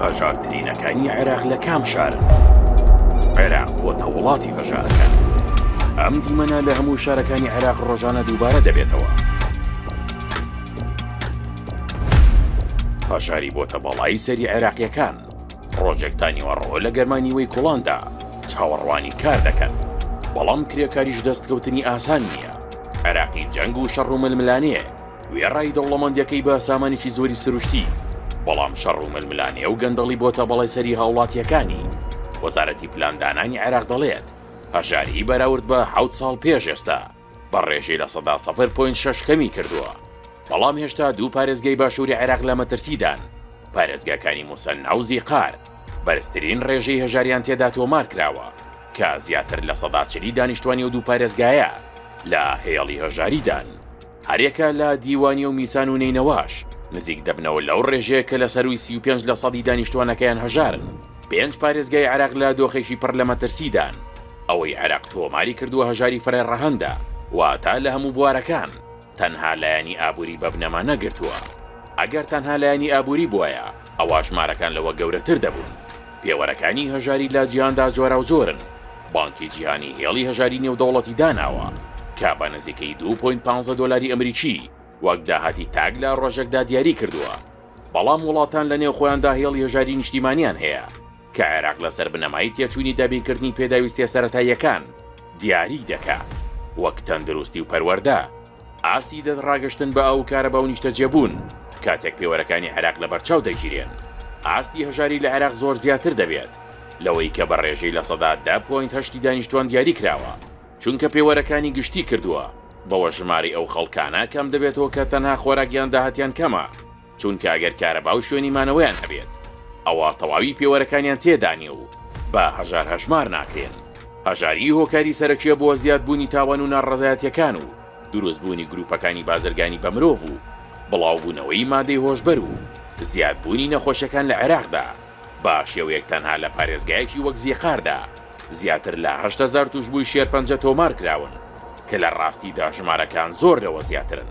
هەژارترینەکانی عێراق لە کام شارن؟ عێراق بۆتە وڵاتی هەژارەکان. ئەم دیمەنە لە هەموو شارەکانی عێراق ڕۆژانە دووبارە دەبێتەوە. هەژاری بۆتە بەڵایی سەری عێراقیەکان. ڕۆژێکتا نیوەڕەوە لە گەرمانیوەی کوڵاندا چاوەڕوانی کار دەکەن. بەڵام کرێکاریش دەستکەوتنی ئاسان نییە. عێراقی جەنگ و شەڕ و ململانێ وێڕای دەوڵەمەندیەکەی بە سامانێکی زۆری سروشتی بەڵام شەڕ و ململانێ و گەندەڵی بۆتە بەڵێ سەری هاوڵاتیەکانی وەزارەتی پلاندانانی عێراق دەڵێت هەژاری بەراورد بە حوت ساڵ پێش ئێستا بە ڕێژەی لە سەدا سەفر پوین شش کەمی کردووە بەڵام هێشتا دوو پارێزگەی باشووری عێراق لە مەترسیدان پارێزگاکانی موسەن ناوزی قار بەرزترین ڕێژەی هەژاریان تێدا تۆمار کراوە کە زیاتر لە سەدا چلی دانیشتوانی و دوو پارێزگایە لە هێڵی هەژاریدان. هەریەکە لە دیوانیە و میسان و نەینەواش نزیک دەبنەوە لەو ڕێژەیە کە لە سەرووی سی و پێنج لە سەدی دانیشتوانەکەیان هەژارن، پێنج پارێزگای عێراق لە دۆخێکی پڕ لە مەترسیدان، ئەوەی عێراق تۆماری کردووە هەژاری فرە ڕەهەندە، واتە لە هەموو بوارەکان، تەنها لایەنی ئابووری بە بنەما نەگرتووە، ئەگەر تەنها لایەنی ئابووری بوایە ئەوا ژمارەکان لەوە گەورەتر دەبوون، پێوەرەکانی هەژاری لە جیهاندا جۆراوجۆرن، بانکی جیهانی هێڵی هەژاری نێودەوڵەتی داناوە کە بە نزیکەی دوو پۆینت پانزە دۆلاری ئەمریکی وەک داهاتی تاک لە ڕۆژێکدا دیاری کردووە، بەڵام وڵاتان لە نێوخۆیاندا هێڵی هەژاری نیشتیمانیان هەیە کە عێراق لەسەر بنەمای تێچووی دابینکردنی پێداویستییە سەرەتاییەکان دیاریی دەکات، وەک تەندروستی و پەروەردە. ئاستی دەستڕاگەشتن بە ئاو و کارەبا و نیشتەجێبوون کاتێک پێوەرەکانی عێراق لەبەرچاو دەگیرێن، ئاستی هەژاری لە عێراق زۆر زیاتر دەبێت لەوەی کە بە ڕێژەی لە سەدا دە پۆینت هەشت ی دانیشتوان دیاری کراوە، چونکە پێوەرەکانی گشتی کردووە، بەوەش ژمارەی ئەو خەڵکانە کەم دەبێتەوە کە تەنها خۆراک یان داهاتیان کەمە. چونکە ئەگەر کارەبا و شوێنی مانەوەیان هەبێت ئەوا تەواوی پێوەرەکانیان تێدا نیە و بە هەژار هەژمار ناکرێن، هەژاریی هۆکاری سەرەکیە بۆ زیاد بوونی تاوان و ناڕەزایەتیەکان و دروست بوونی گروپەکانی بازرگانی بە مرۆڤ و بڵاو بوونەوەی مادەی هۆشبەر و زیاد بوونی نەخۆشیەکان لە عێراقدا بە شێوەیەک تەنها لە پارێزگایەکی وەک زیقاردا زیاتر لە هەشت هەزار توشبووی شێرپەنجە تۆمار کراون کە لە ڕاستیدا ژمارەکان زۆر لەوە زیاترن.